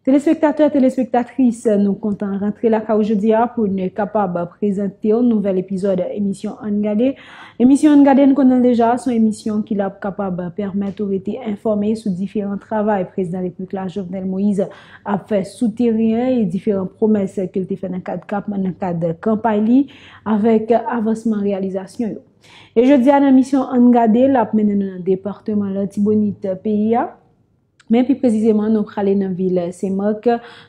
Telespektatè, telespektatris, nou kontan rantre lakay ou jodi a pou nou kapab prezante yon nouvèl epizòd emisyon Ann Gade. Emisyon Ann Gade nou konnen l deja, son emisyon ki la pou kapab pèmèt ou rete enfòme sou diferan travay Prezidan Repiblik la Jovenel Moïse ap fè sou teren e diferan pwomès ke l te fè nan kad kap nan kad kanpay li avèk avansman reyalizasyon yo. E jodi a nan emisyon Ann Gade l ap mennen nou nan departeman Latibonit peyi a. Men pi prezizeman nou prale nan vil Senmak,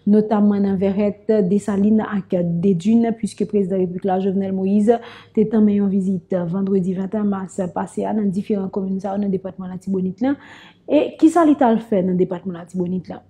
notamman nan Vèrèt, Desalin ak Dedun, puiske Prezidan Repiblik la, Jovenel Moïse, te tanmen yon vizit vandredi 21 mas pase a nan diferan komin sa yo nan depatman Latibonit lan. E kisa li t al fè nan depatman Latibonit lan?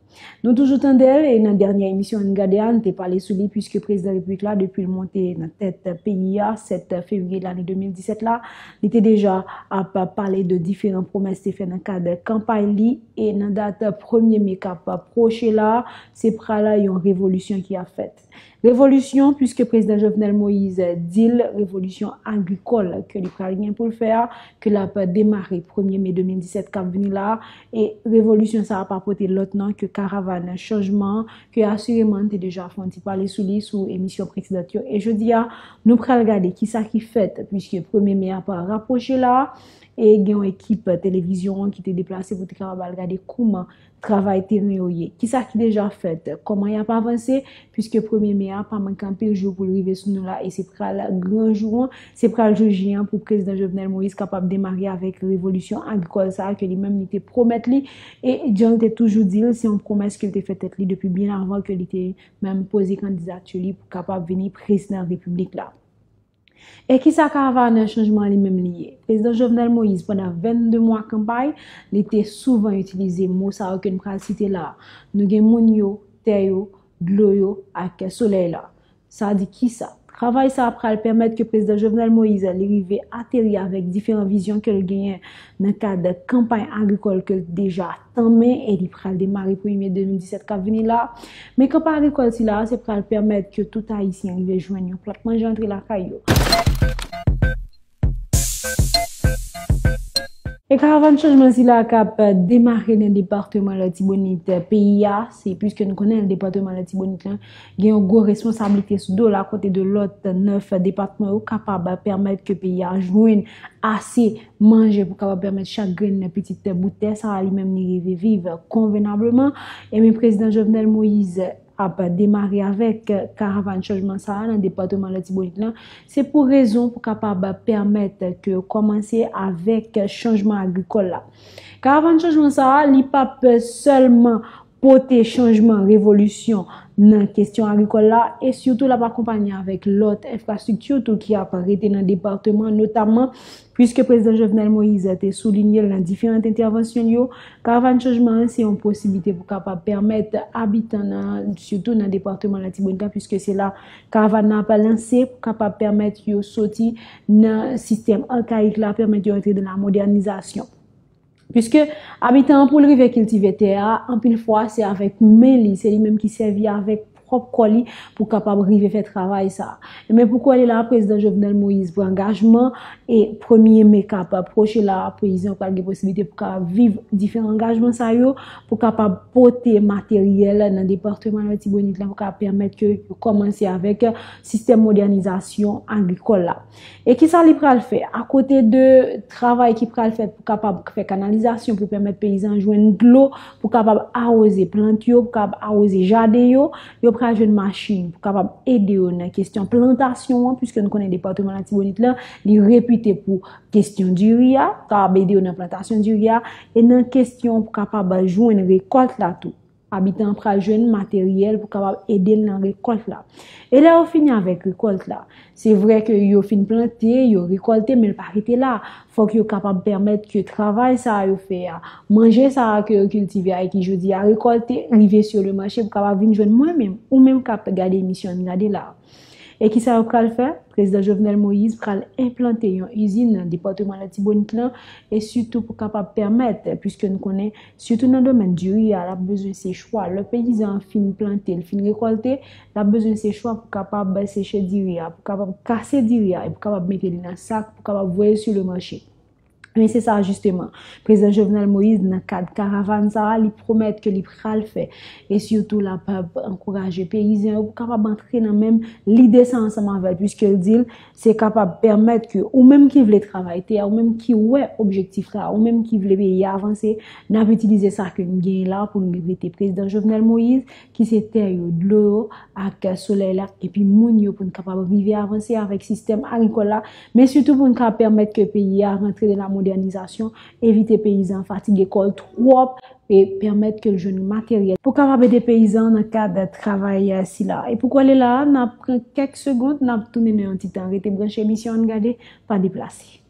Nou toujou tande l e nan dènyè emisyon Ann Gade a, n te pale sou li puiske Prezidan Repiblik la depi l monte nan tèt peyi a 7 fevriye lane 2017 la, Li te deja ap pale de diferan pwomès te fè nan kad kanpay li e nan dat premye me kap pwoche la, se pral yon revolisyon ki ap fèt. Revolisyon puiske Prezidan Jovenel Moïse di l revolisyon agrikòl ke li pral gen pou l fè a, ke lap demare premye me 2017 kap vini la e revolisyon sa a pa pote lòt non ke karavàn chanjman ke asireman n te deja fè yon ti pale sou li sou emisyon presedant yo e jodi a nou pral gade ki sa ki fèt puiske premye me a pa rapwoche la a e gen yon ekip televizyon an ki te deplase pou te kapab al gade kouman travay teren yo ye ki sa ki deja fèt kòman y ap avanse puiske premye me a pa manke anpil jou pou l rive sou nou la e se pral gran jou an Se pral jou J an pou Prezidan Jovenel Moïse kapab demare avèk revolisyon agrikòl sa a ke li menm li te pwomèt li e jan l te toujou di l, se yon pwomès ke l te fè tèt li depi byen avan ke li te menm poze kandidati li pou kapab vini Prezidan Repiblik la. E kisa Karavanè Chanjman an li menm li ye? Prezidan Jovenel Moïse, pandan 22 mwa kanpay, li te souvan itilize mo sa yo ke n pral site la a, nou gen moun yo, tè yo, dlo yo ak solèy la. Sa di kisa? Travay sa pral pèmèt ke Prezidan Jovenel Moise li rive ateri avèk diferan vizyon ke l genyen nan kad kanpay agrikòl ke l t deja tanmen e li pral demare premye me 2017 kap vini la. Men kanpay agrikòl sila a se pral pèmèt ke tout Ayisyen rive jwenn yon plat manje antre lakay yo. E karavan chanjman sila k ap demare nan depatman Latibonit peyi a, se piske nou konnen depatman Latibonit lan gen yon gwo responsablite sou do l a kote de lòt 9 depatman yo kapab pèmèt ke peyi a jwenn ase manje pou kapab pèmèt chak grenn pitit bout tè sa a li menm li rive viv konvenableman. Enben Prezidan Jovenel Moïse. ap demare avèk karavan chanjman sa a nan depatman Latibonit lan, se pou rezon pou kapab pèmèt ke yo kòmanse avèk chanjman agrikòl la. Karavan chanjman sa a, li pa p sèlman pote chanjman, revolisyon, nan kesyon agrikòl la, e sitou l ap akonpanye avèk lòt enfrastrikti tou ki ap rete nan depatman, notamman, Puiske Prezidan Jovenel Moise te soulinye l nan diferant entèvansyon l yo, Karavàn Chanjman an se yon posiblite pou kapab pèmèt abitan nan, sitou nan depatman Latibonit la, puiske se la Karavàn nan ap lanse, pou kapab pèmèt yo soti nan sistèm arkayik la, pèmèt yo antre nan la modènizasyon. Piske abitan an pou l rive kiltive tè a, anpil fwa se avèk men li, se li menm ki sèvi avèk pwòp kò li pou kapab rive fè travay sa. Enben pou kouwè li la a prezidan Jovenel Moïse pran angajman e premye me k ap pwoche la a peyizan yo pral gen posiblite pou kapab viv diferan angajman sa yo pou kapab pote materyèl nan departeman Latibonit la pou kapab pèmèt ke yo kòmanse avèk sistèm modènizasyon agrikòl la. E ki sa li pral fè? A kote de travay ki pral fèt pou kapab fè kanalizasyon pou pèmèt peyizan jwenn dlo pou kapab awoze plant yo, pou kapab awoze jaden yo, yo pral jwenn machin pou kapab ede yo nan kestyon plantasyon an, pwiske nou konnen depatman Latibonit la, li repite pou kestyon diri a, kapab ede yo nan plantasyon diri a, e nan kestyon pou kapab jwenn rekòlt la tou. Abitan an pral jwenn materyèl pou kapab ede l nan rekòlt la. E lè yo fini avèk rekòlt la? Se vre ke yo fin plante, yo rekòlte men l pa rete la. Fòk yo kapab pèmèt ke travay sa a yo fè a, manje sa a ke yo kiltive a e ki jodi a rekòlte, rive sou le mache pou kapab vin jwenn mwen menm, ou menm k ap gade emisyon an n gade la a. E kisa yo pral fè? Prezidan Jovenel Moïse pral enplante yon izin nan depatman Latibonit lan e sitou pou kapab pèmèt, puiske nou konnen sitou nan domèn diri a, l ap bezwen se chwa, lè peyizan an fin plante, l fin rekòlte, l ap bezwen se chwa pou kapab seche diri a, pou kapab kase diri a e pou kapab mete li nan sak pou kapab voye sou lemache. Men se sa jisteman, Prezidan Jovenel Moïse nan kad karavann sa a li pwomèt ke li pral fè. E sitou la pa ankouraje peyizan yo pou kapab antre nan menm lide sa ansanm avèl. Piske l di l se kapab pèmèt ke ou menm ki vle travay tè a, ou menm ki wè objektif la, ou menm ki vle peyi a avanse, n ap itilize sa ke n genyen la pou n li rete. Prezidan Jovenel Moïse. ki se tè yo, dlo yo ak solèy la epi moun yo pou n kapab rive avanse avèk sistèm agrikòl la men sitou pou n ka pèmèt ke peyi a rantre nan lamodènizasyon, evite peyizan fatige kò l twòp e pèmèt ke l jwenn materyèl pou kapab ede peyizan an nan kad travay sila. E pou kole la a, n ap pran kèk segond, n ap tounen nan yon ti tan. Rete branche emisyon Ann Gade, pa deplase.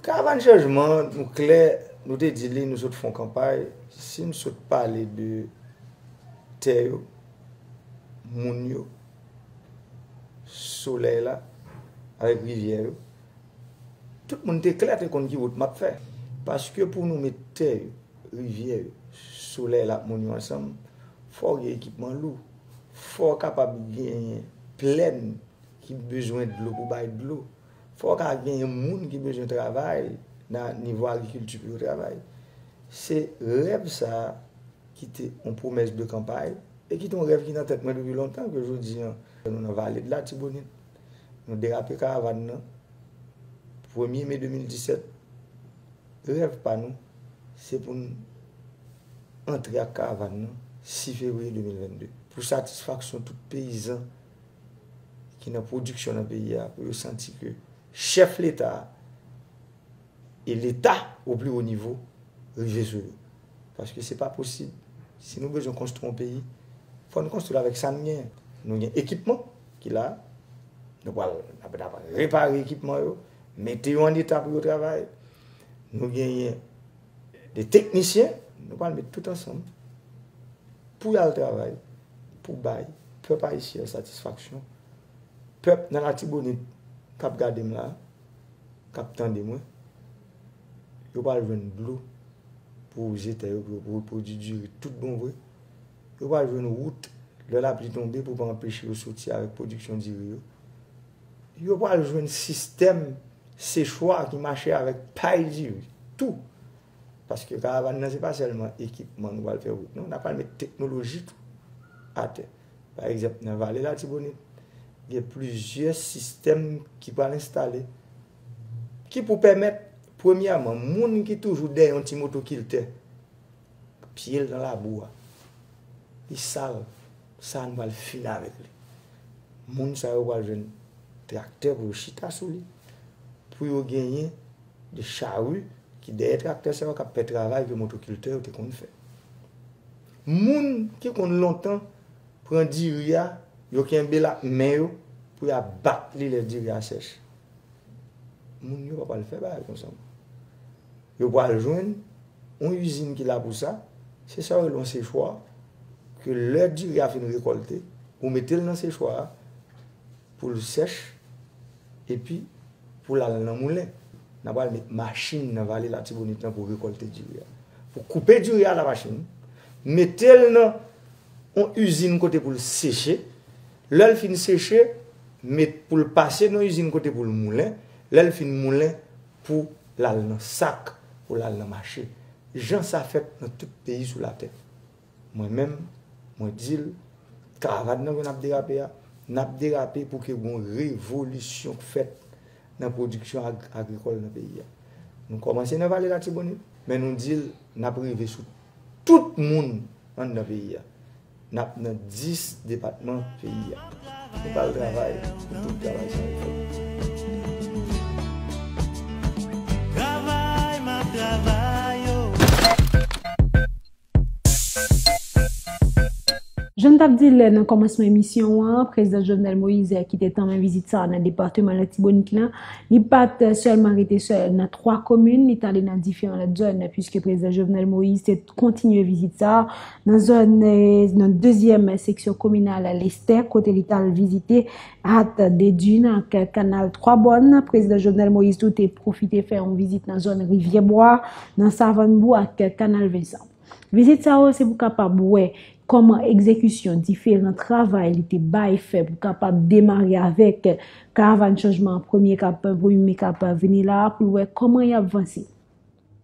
Karavann chanjman an, nou klè, nou te di li, nou sot fè yon kanpay, si n sot pale de tè yo, moun yo, solèy la, avèk rivyè yo, tout moun te klè te konn ki wout m ap fè. Paske pou nou met tè yo, rivyè yo, solèy la ak moun yo ansanm, fò w gen ekipman lou, fò w kapab genyen plèn ki bezwen dlo pou bay dlo. Fò ka genyen moun ki bezwen travay nan nivo agrikilti pou yo travay. Se rèv sa a ki te yon pwomès de kanpay e ki te yon rèv ki nan tèt mwen depi lontan ke jodi an nou nan vale de latibonit, nou derape karavann nan, premye me 2017, rèv pa nou se pou n antre ak karavann nan 6 fevriye 2022 pou satisfaksyon tout peyizan ki nan pwodiksyon nan peyi a pou yo santi ke chèf leta a e leta o pli wo nivo rive sou yo. Paske se pa posib, si nou bezwen konstwi yon peyi, fò nou konstwi l avèk sa nou genyen. Nou gen ekipman ki la, nou pral repare ekipman yo, mete yo an eta pou yo travay, nou genyen. 2 teknisyen, nou pral met tout ansanm pou y al travay pou bay pèp ayisyen satisfaksyon, pèp nan Latibonit k ap gade m la, k ap tande mwen, yo pral jwenn dlo pou wouze tè yo, pou yo repwodui diri tout bon vre, yo pral jwenn wout lè lapli tonbe pou pa anpeche yo soti avèk pwodiksyon diri yo, yo pral jwenn sistèm. Sechwa ki mache avèk pay diri tou. Paske karavan nan se pa sèlman ekipman nou pral fè wout non, na pral met teknoloji tou atè. Pa egzanp nan vale latibonit gen plizyè sistèm ki pral enstale ki pou pèmèt premyèman moun ki toujou dèyè yon ti motokiltè. Pyel nan labou a Li sal sa nou pral fini avèk li Moun sa yo pral jwenn traktè pou yo chita sou li Pou yo genyen de charu ki dèyè traktè sa yo kap fè travay ke motokiltè yo te konn fè Moun ki konn lontan pran diri a yo kenbel ak men yo pou ya bat li lè diri a sèch Moun yo pa pral fè bagay konsa ankò. Yo pral jwenn yon izin ki la pou sa, se sa yo rele yon sechwa, ke lè diri a fin rekolte, ou mete l nan sechwa a, pou l sèch, epi pou l al nan moulen. Nan pral met machin nan vale latibonit lan pou rekolte diri a. Pou koupe diri a la machin, mete l nan yon izin kote pou l seche, lè l fin seche, met pou l pase nan yon izin kote pou l moulen, lè l fin moulen, pou l al nan sak, pou l al nan mache, jan sa fèt nan tout peyi sou latè. Mwen menm, mwen di l, karavàn nan ke n ap derape a, n ap derape pou ke gen yon revolisyon k fèt nan pwodiksyon agrikòl nan peyi a. Nou kòmanse nan Vale Latibonit, men nou di l n ap rive sou tout moun anndan peyi a. N ap nan 10 depatman peyi a. Nou pa al travay pou tout travay sa yo fèt. Travay m ap travay o. Jan n t ap di l nan kòmansman emisyon an, Prezidan Jovenel Moïse ki te tanmen vizit sa a nan depateman Latibonit la, li pa t sèlman rete sèl nan 3 komin, li t ale nan diferan lòt zòn, piske Prezidan Jovenel Moïse te kontinye vizit sa a. nan zòn nan dezyèm seksyon kominal Lestè kote li tal vizite hat de dune ak kanal 3 bòn. Prezidan Jovenel Moïse tou te pwofite fè yon vizit nan zòn Rivyè Bwa, nan Savann Bou ak kanal Vincent. Vizit sa yo se pou kapab wè kòman egzekisyon diferan travay li te bay fè pou kapab demare avèk karavann chanjman premye kap premye mi kap vini la pou l wè kòman yap vanse.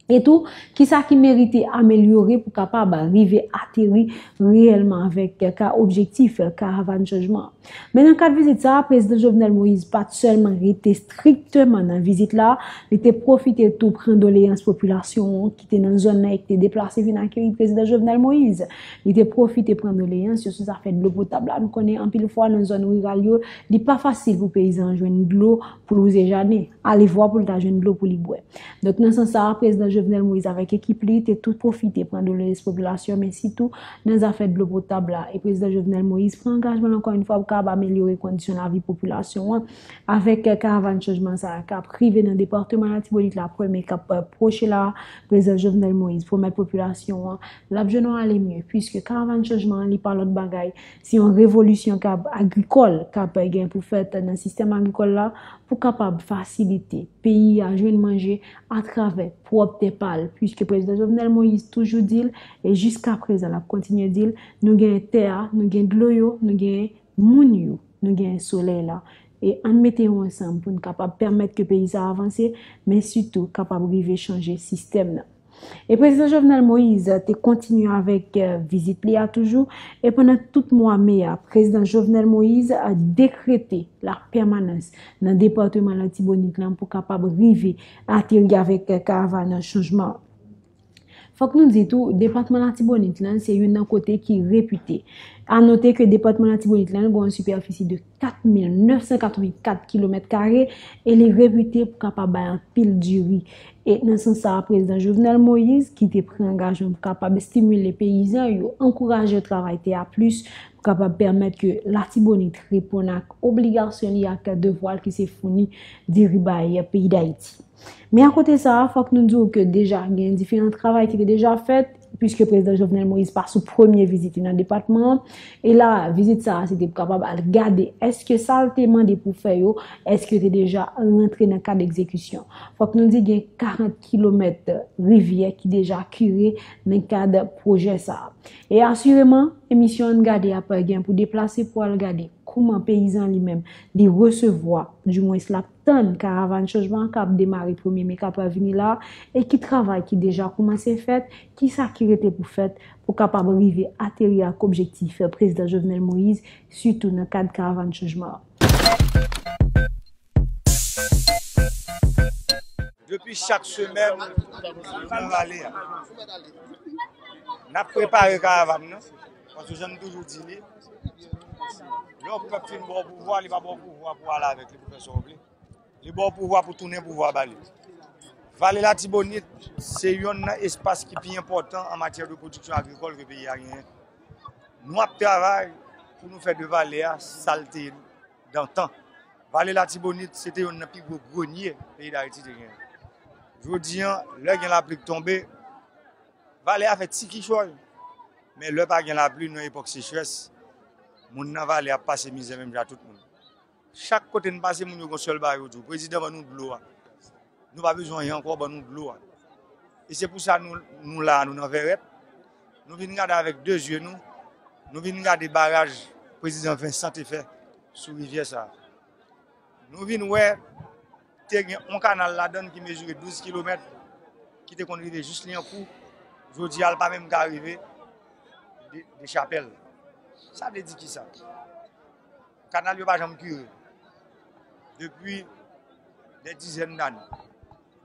E tou, ki sa ki merite amelyore pou kapab rive ateri reyèlman avèk ka objektif karavann chanjman an. Men nan kad vizit sa a, Prezidan Jovenel Moïse pa t sèlman rete strikteman nan vizit la, li te pwofite tou pran doleyans popilasyon an ki te nan zòn nan e ki te deplase vin akeyi Prezidan Jovenel Moïse. Li te pwofite pran doleyans yo sou zafè dlo potab la. Nou konnen anpil fwa nan zòn riral yo, li pa fasil pou peyizan an jwenn dlo pou louze jaden. Alevwa pou l ta jwenn dlo pou li bwè. Donk nan sans sa a, Prezidan Jovenel Moïse avèk ekip li te tou pwofite pran dolerez popilasyon men sitou nan zafè dlo potab la. E Prezidan Jovenel Moïse pran angajman l ankò yon fwa pou kapab amelyore kondisyon lavi popilasyon an avèk karavan chanjman sa a k ap rive nan departeman Latibonit la premye k ap pwoche la a. Prezidan Jovenel Moïse pwomèt popilasyon an l ap jwenn yon ale mye pwiske karavan chanjman an li pa lòt bagay Se yon revolisyon kab agrikòl kab gen pou fèt nan sistèm agrikòl la pou kapab fasilite peyi a jwenn manje atravè pwòp tè pa l. Piske Prezidan Jovenel Moïse toujou di l, e jiska prezan l ap kontinye di l, nou genyen tè a, nou gen dlo yo, nou genyen moun yo, nou genyen solèy la. E ann mete yo ansanm pou n kapab pèmèt ke peyi sa a avanse, men sitou kapab rive chanje sistèm nan. E Prezidan Jovenel Moise te kontinye avèk vizit li a toujou, e pandan tout mwa me a, Prezidan Jovenel Moise dekrete la pèmanans nan Depatman Latibonit lan pou kapab rive ateri avèk karavan chanjman an. Fòk nou di tou, Depatman Latibonit lan se youn nan kote ki repite. A note ke Depatman Latibonit lan gen yon sipèfisi de. 4,984 kilomèt kare e li repite pou kapab bay anpil diri. E nan sans sa a, Prezidan Jovenel Moïse, ki te pran angajman pou kapab estimile peyizan yo, ankouraje yo travay tè a plis, pou kapab pèmèt ke Latibonit reponn ak obligasyon li ak devwa l ki se founi diri bay peyi Dayiti. Men akote sa, fòk nou di ou ke deja gen diferan travay ki te deja fèt, pwiske Prezidan Jovenel Moïse pa sou premye vizit li nan depatman an, e la vizit sa a se te pou kapab al gade eske sa l te mande pou fè yo, eske yo te deja rantre nan kad egzekisyon. Fòk nou di gen 40 kilomèt rivyè ki deja kire nan kad pwojè sa a. E asireman, emisyon Ann Gade ap gen pou deplase pou al gade kouman peyizan li menm li resevwa, di mwens l ap. tann Karavann Chanjman an k ap demare premye me k ap pral vini la a e ki travay ki deja koumanse fèt, ki sa ki rete pou fèt pou kapab rive ateri ak objektif Prezidan Jovenel Moïse sitou nan kad Karavann Chanjman an. Depi chak semèn nan rale a, n ap prepare Karavann nan. Paske jan nou toujou di li, lè yon pèp fin ba w pouvwa, li pa ba w pouvwa pou w ale avèk li pou fè sa w vle. Li ba w pouvwa pou tounen pouvwa ba li. Vale Latibonit se yonn nan espas ki pi enpòtan an matyè de pwodiksyon agrikòl ke peyi a genyen. Nou ap travay pou nou fè de vale a sa l te dantan. Vale Latibonit se te yonn nan pi gwo grenye peyi Dayiti te genyen. Jodi an, lè gen lapli k tonbe, Vale a fè ti kichòy, men lè pa gen lapli nou nan epòk sechrès, moun nan vale ap pase mizè menm jan ak tout moun. Chak kote n pase moun yo gon sèl bagay yo di w, prezidan ban nou dlo a, nou pa bezwen anyen ankò ban nou dlo a. E se pou sa nou la a nou nan Vèrèt, nou vin gade avèk 2 zye nou, nou vin gade baraj prezidan Vincent te fè sou rivyè sa a. Nou vin wè. Te gen yon kanal ladan l ki mezire 12 kilomèt, ki te konn rive jis Lyankou, jodi a l pa menm ka rive Dechapèl. Sa vle di ki sa? Kanal yo pa janm kire. Depi dè dizèn dane,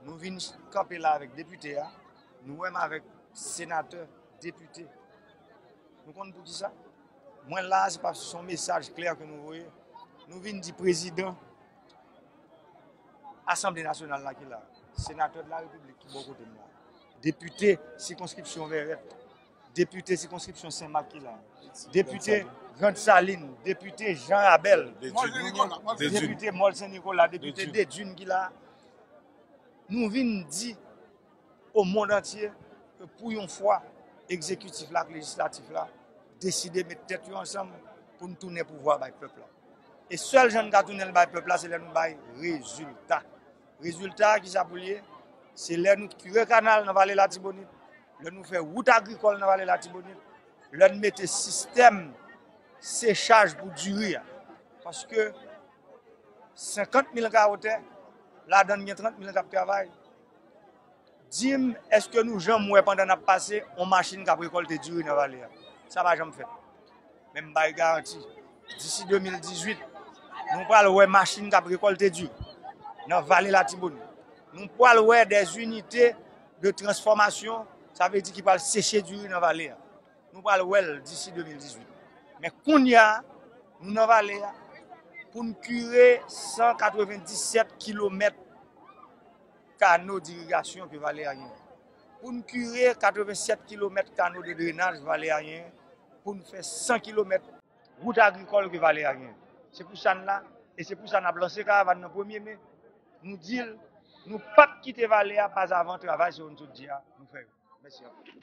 nou vin kanpe la avèk depite a, nou wè m avèk senatè, depite. Nou konn pou ki sa? Mwen la a se paske se yon mesaj klè ke nou voye. Nou vin di prezidan Asanble Nasyonal la ki la, Senatè de la Repiblik ki bò kote m la, Depite sikonskripsyon Vèrèt, Depite sikonskripsyon Sen Mak ki la, Depite Grand Salin, Depite Jan Rabèl, Depite Mòl Sen Nikola, Depite Dedwin ki la, nou vin di. o mond antye ke pou yon fwa egzekitif la ak lejislatif la deside met tèt yo ansanm pou n tounen pouvwa a bay pèp la. E sèl jan n ka tounen l bay pèp la se lè nou bay rezilta. Rezilta a kisa pou l ye? Se lè nou kire kanal nan vale latibonit, lè nou fè wout agrikòl nan vale latibonit, lè n mete sistèm sechaj pou diri a. Paske 50 mil ka otè, ladan n gen 30 mil k ap travay. Dim eske nou janm wè pandan nap pase yon machin kap rekolte diri nan vale a? Sa pa janm fèt. Men m bay garanti disi 2018 nou pral wè machin kap rekolte diri nan vale latibonit. Nou pral wè dè inite de transfomasyon sa vle di ki pral seche diri nan vale a. Nou pral wè l disi 2018. Men kounya nou nan vale a poun kire 197 kilomèt. kano dirigasyon ke vale a genyen. Pou n kire 87 kilomèt kano de drenaj vale a genyen, pou n fè 100 kilomèt wout agrikòl ke vale a genyen. Se pou sa n la e se pou sa n ap lanse karavan nan premye me, nou di l nou p ap kite vale a pazavan travay sa yo n sot di a nou fè yo. Mèsi anpil.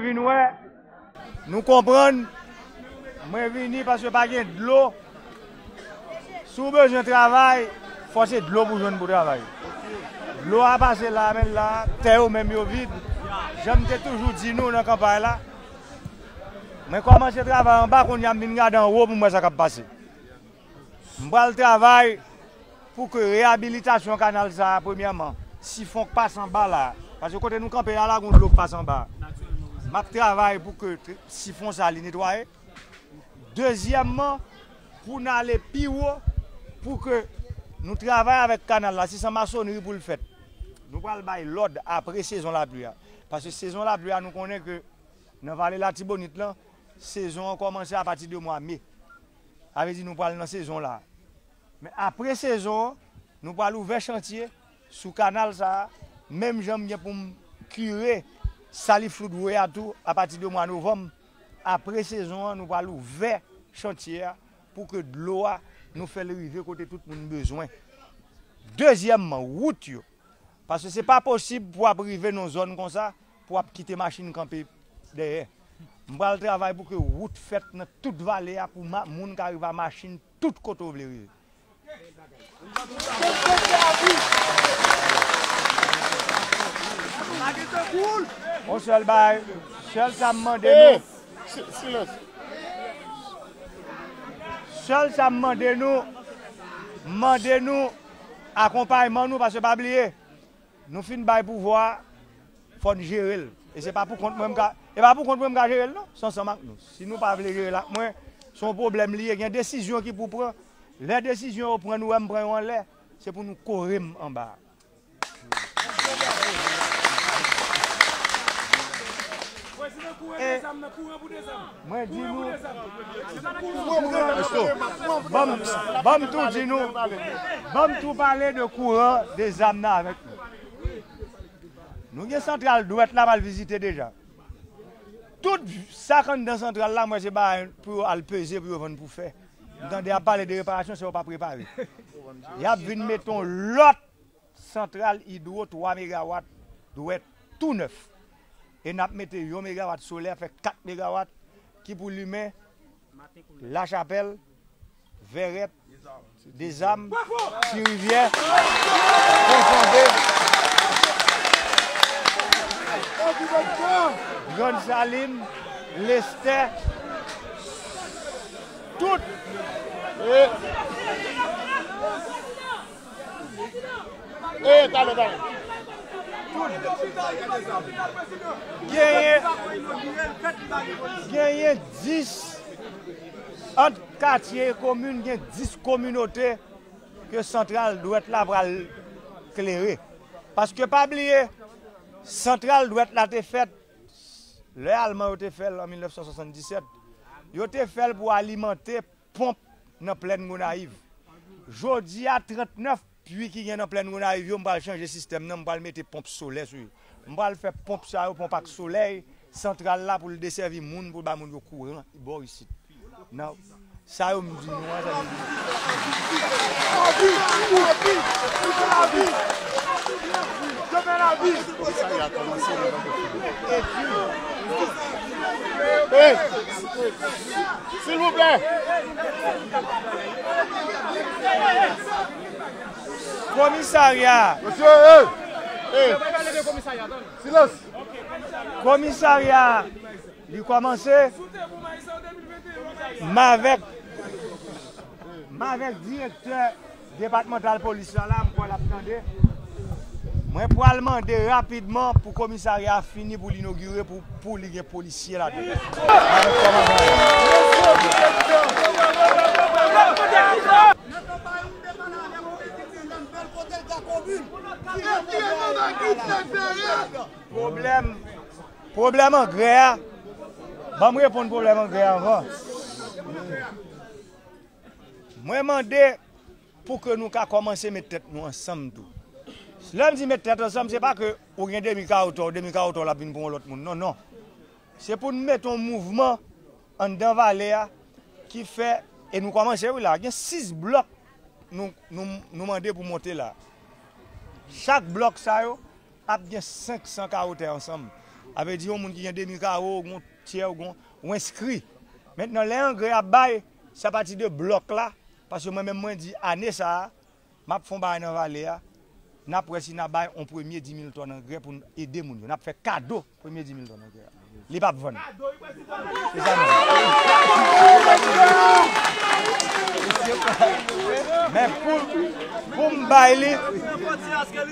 Mwen vin wè, nou konprann, mwen vini paske pa gen dlo. Si w bezwen travay, fò se dlo pou jwenn pou travay. Dlo a pase la men la, tè yo menm yo vid. Jan m te toujou di nou nan kanpay la, mwen kòmanse travay anba kounye a m vin gade anwo pou m wè sa k ap pase. M pral travay pou ke reyabilitasyon kanal sa a premyèman, sifon k pase anba la a, paske kote nou kanpe a la gon dlo k pase anba a, m ap travay pou ke sifon sa a li netwaye. Dezyèmman, pou n ale pi wo, pou ke nou travay avèk kanal la, si se masonnri pou l fèt, nou pral bay lòd apre sezon lapli a, paske sezon lapli a nou konnen ke nan Vale Latibonit lan, sezon an kòmanse apati de mwa me. Sa vle di nou pral nan sezon la. Men apre sezon an, nou pral ouvè chantye sou kanal sa a, menm jan m gen pou m kire Sally Floodway a tou apati de mwa novanm. Apre sezon an, nou pral ouvè chantye a pou ke dlo a nou fè l rive kote tout moun bezwen. Dezyèmman, wout yo. Paske se pa posib pou ap rive nan yon zòn konsa, Pou ap kite machin kanpe dèyè. M pral travay pou ke wout fèt nan tout vale a pou moun ka rive a machin tout kote ou vle rive. On sèl bagay, sèl sa m mande nou, sèl sa m mande nou, m mande nou akonpayman nou paske pa bliye. Nou fin bay pouvwa fò n jere l e se pa pou kont mwen m ka e pa pou kont mwen m ka jere l non se ansanm ak nou si nou pa vle jere l ak mwen se yon pwoblèm li ye gen desizyon ki pou pran lè desizyon yo pran nou wè m pran yo anlè se pou nou kore m anba a. Mwen di nou Banm tou di nou Banm tou pale de kouran de zam nan avèk nou Nou gen santral dwèt la mal vizite deja Tout sak anndan santral la mwen se bagay pou yo al peze pou yo vann pou fè M tande yap pale de reparasyon sa yo pa prepare Yap vin met on lòt Santral idwo 3 megawat dwè tou nèf e n ap mete yon megawat solè fè 4 megawat ki pou limen Lachapèl, Vèrèt, Dezam, Ti Rivyè, Pon Fonde, Grann Salin, Lestè, tout. Genyen 10 ant katye e komin, gen 10 kominote ke santral dwèt la pral klere. Paske pa bliye, santral dwèt la te fèt lè alman yo te fèl an 1977. Yo te fèl pou alimante. Ponp nan plèn Gonayiv. Jodi a 39 pui ki gen nan plèn Gonayiv yo m pral chanje sistèm nan m pral mete ponp solè sou yo. M pral fè ponp sa yo ponp ak solèy santral la pou l desèvi moun pou l bay moun yo kouran bò isit nan sa yo m di nou an sa se vre. Silvouplè! Komisarya! Mesye eey! Silans! Komisarya li kòmanse, m avèk direktè. Depatmantal polis la la m kwè lap tande mwen pwal mande rapidman pou komisarya a fini pou l inogire pou li gen polisye ladan l avèk kòmandan an. Pwoblèm angrè a banm reponn pwoblèm angrè a anvan. Mwen mande pou ke nou ka kòmanse met tèt nou ansanm tou. Lè m di met tèt ansanm, se pa ke ou gen demi ka ou tò, demi ka ou tò l ap vin pou yon lòt moun. Non, non. Se pou nou mete yon mouvman anndan vale a ki fè, e nou kòmanse wi la, gen 6 blòk nou mande pou monte la. Chak blòk sa yo ap gen 500 kawo tè ansanm. A vle di yon moun ki gen demi kawo, ou gen yon tyè, ou gen yon, ou enskri. Mentnan lè angrè a bay, Se apati de blòk la, paske mwen menm mwen di ane sa a, m ap fè yon bagay nan vale a, n ap wè si n a bay yon premye dimil tòn angrè pou n ede moun yo. N ap fè kado premye dimil tòn angrè a. Li p ap vann. Se sa nou di. Men pou m bay li.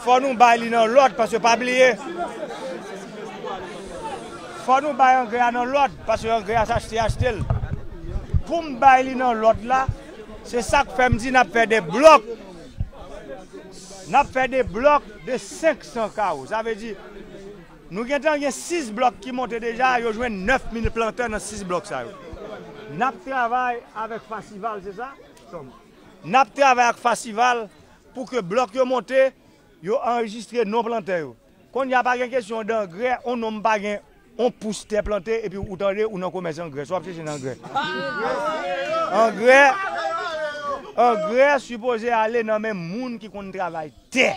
Fò nou bay li nan lòd paske pa bliye fò nou bay angrè a nan lòd paske angrè a s'achte achte l pou m bay li nan lòd la se sak fè m di n'ap fè 2 blòk n'ap fè 2 blòk de 500 kawo sa vle di nou gentan gen 6 blòk ki monte deja yo jwenn 9000 plantè nan 6 blòk sa yo n'ap travay avèk fasival se sa n'ap travay ak fasival. Pou ke blòk yo monte, yo anrejistre non plantè yo. Konnya pa gen kesyon dangrè, on nonm pa gen on pous tè plante epi ou tande ou nan komès angrè, sa w ap chèche nan angrè? Angrè, angrè sipoze ale nan men moun ki konn travay tè.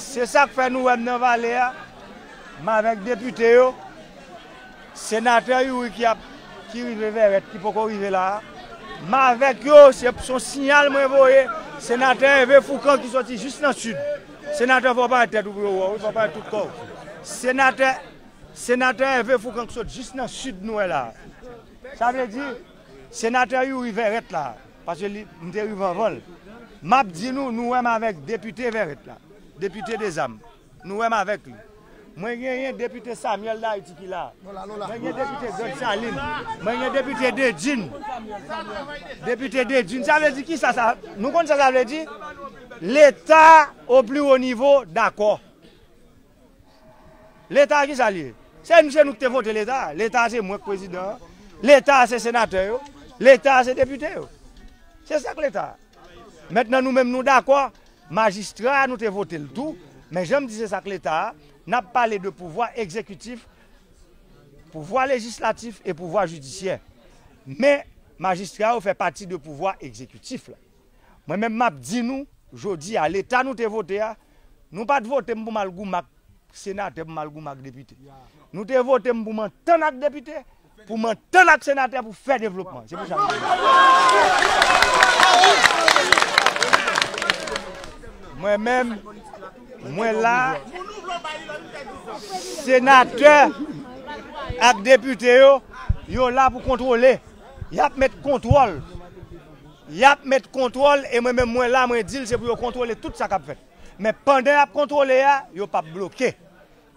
Se sa k fè nou wè m nan vale a, m avèk depite yo. Senatè youri ki ap ki rive vèrèt ki poko rive la a m avèk yo se son siyal mwen voye senatè ève foukan ki soti jis nan sid senatè fò w parèt tèt ou pou yo wè w wi fò w parèt tout kò w senatè senatè ève foukan ki sot jis nan sid nou wè la a sa vle di senatè youri vèrèt la a paske li m te rive anvan l m ap di nou nou wè m avèk depite vèrèt la depite dezam. Nou wè m avèk li. Mwen genyen depite Samuel D'Haiti ki la. Mwen gen depite Grande Saline. Mwen gen depite Dedjine. Depite Dedjine. Sa vle di ki sa sa. Nou konn sa sa vle di? Leta o pli wo nivo dakò. Leta a ki sa li ye? Se nou se nou ki te vote leta a. Leta a se mwen ki prezidan an. Leta a se senatè yo. Leta a se depite yo. Se sa k leta a. Mentnan nou menm nou dakò, majistra a nou te vote l tou, men jan m di se sa k leta a, n ap pale de pouvwa egzekitif, pouvwa lejislatif e pouvwa jidisyè. Men majistra yo fè pati de pouvwa egzekitif la. Mwen menm m ap di nou jodi a leta nou te vote a, nou pa t vote m pou m al goumen ak senatè, pou m al goumen ak depite. Nou te vote m pou m antann ak depite, Pou m antann ak senatè pou fè devlopman. Se pou sa m vin la. Mwen menm, mwen la, senatè ak depite yo, yo la pou kontwole. Y ap met kontwòl. Y ap met kontwòl e mwen menm mwen la mwen di l se pou yo kontwole tout sa k ap fèt. Men pandan y ap kontwole a, yo p ap bloke.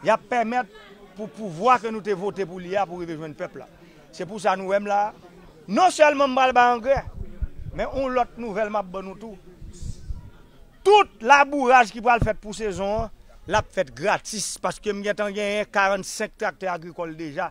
Y ap pèmèt pou pouvwa ke nou te vote pou li a pou rive jwenn pèp la. Se pou sa nou wè m la a. Non sèlman m pral bay angrè, men yon lòt nouvèl m ap ban nou tou, tout labouraj ki pral fèt pou sezon an, l ap fèt gratis paske m gentan genyen 45 traktè agrikòl deja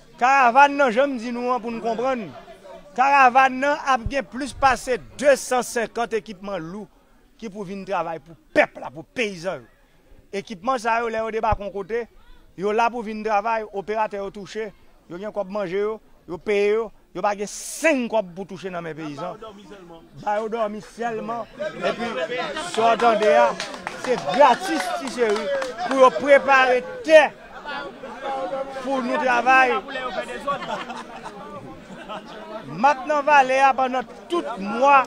Karavàn nan, jan m di nou an pou n konprann, karavàn nan ap gen plis pase 250 ekipman lou ki pou vin travay pou pèp la, pou peyizan yo. Ekipman sa yo, lè yo debake yon kote, yo la pou vin travay, operatè yo touche, yo gen kòb manje yo, yo peye yo, yo pa gen seng kòb pou touche nan men peyizan. Ba yo dòmi sèlman epi sa w tande a se gratis ti cheri pou yo prepare tè pou nou travay mak nan vale a pandan tout mwa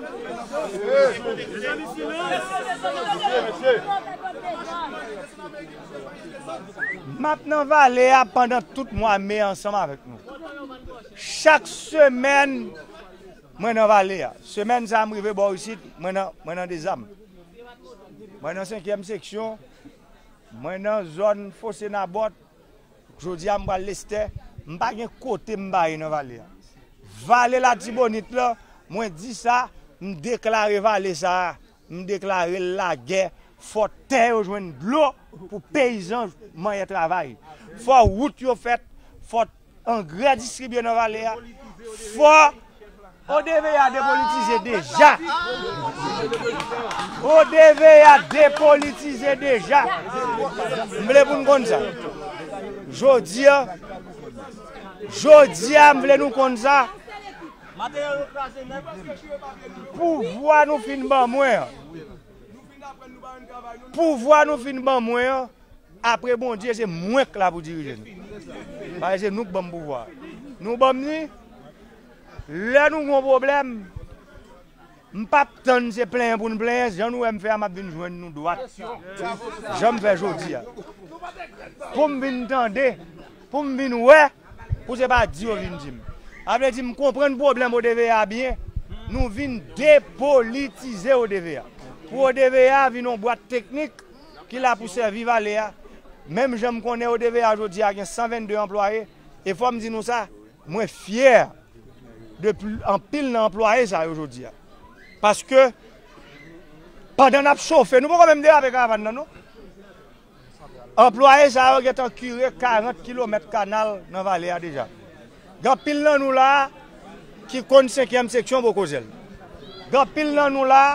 mak nan vale a pandan tout mwa me ansanm avèk nou chak semèn. Mwen nan vale a. Semèn sa a m rive bò isit, mwen nan, mwen nan Dezam. Mwen nan senkyèm seksyon, mwen nan zòn Fose Nabòt, jodi a m pral Lestè. M pa gen kote m pa ye nan vale a. Vale Latibonit lan, mwen di sa, m deklare vale sa a. M deklare lagè fò tè yo jwenn dlo pou peyizan manyè travay fò wout yo fèt fò angrè distribye nan vale a fò. ODVA depolitize deja ODVA depolitize deja M vle pou n konn sa Jodi a Jodi a m vle nou konn sa. Matériel yo kraze net. Pouvwa nou fin ban mwen an. Pouvwa nou fin ban mwen an apre Bondye se mwen k la pou dirije nou. Paske se nou k ban m pouvwa a. Nou ban m li lè nou gen yon pwoblèm. M pap tann se plenyen pou n plenyen jan nou wè m fè a m ap vin jwenn nou dwat jan m fè jodi a pou m vin tande pou m vin wè pou se pa di yo vin di m a vle di m konprann pwoblèm ODVA a byen nou vin depolitize ODVA pou ODVA a vin yon bwat teknik ki la pou sèvi vale a menm jan m konnen ODVA jodi a gen 122 anplwaye e fò m di nou sa. Mwen fyè de anpil nan anplwaye sa yo jodi a. Paske pandan n ap chofe, nou poko menm derape karavan nan non, anplwaye sa yo gentan kire 40 kilomèt kanal nan vale a deja. Gen anpil nan nou la a ki konn senkyèm seksyon Bokozèl. Gen anpil nan nou la a.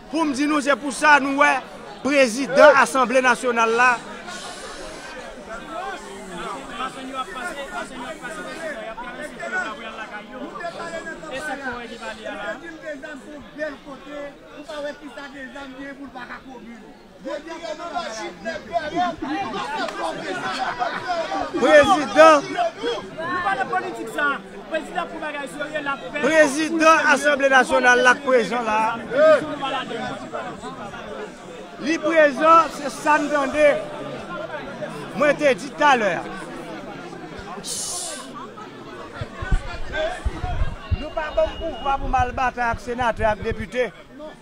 Pou m di nou se pou sa nou wè prezidan asanble nasyonal la Prezidan Asanble Nasyonal la k prezan la a. Li prezan, se sa n tande. Mwen te di talè a. Nou pa ban m pouvwa pou m al batay ak senatè ak depite.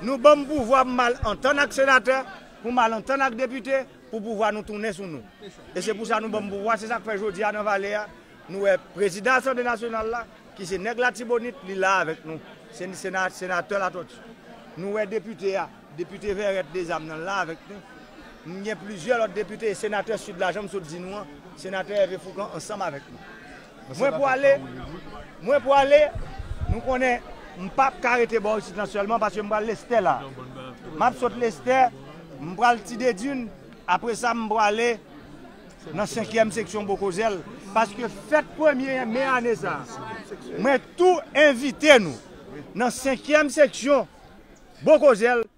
Nou banm pouvwa m mal antann ak senatè, pou m al antann ak depite, pou pouvwa nou tounen sou nou. E se pou sa nou ban m pouvwa, se sa k fè jodi a nan vale a, nou wè prezidan asanble nasyonal la, ki se nèg latibonit, li la avèk nou, se senatè Latòti. Nou wè depite a, depite Vèrèt Dezam nan la avèk nou. M gen plizyè lòt depite e senatè Sid la, jan m sot di nou an, senatè Ève Foukan ansanm avèk nou. Mwen pwale, mwen pwale, nou konnen m pap ka rete bò isit lan sèlman paske m pral Lestè la. M ap sot Lestè, m pral Tidedin, apre sa m pwale nan senkyèm seksyon Bokozèl paske fèt premye me ane sa a. Mwen tou envite nou nan senkyèm seksyon Bokozèl.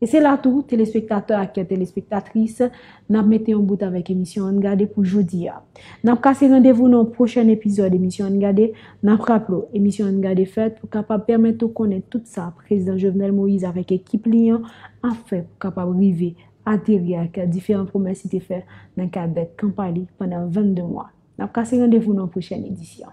E se la tou, telespektatè ak telespektatris, n ap mete yon bout avèk emisyon An n Gade pou jodi a. N ap kase randevou nan yon pwochèn epizòd emisyon An n Gade. N ap raple w, emisyon An n Gade fèt pou kapab pèmèt ou konnen tout sa Prezidan Jovenel Moïse avèk ekip li an ap fè pou kapab rive ateri ak diferan pwomès li te fè nan kad kanpay li pandan 22 mwa. N ap kase randevou nan yon pwochèn edisyon.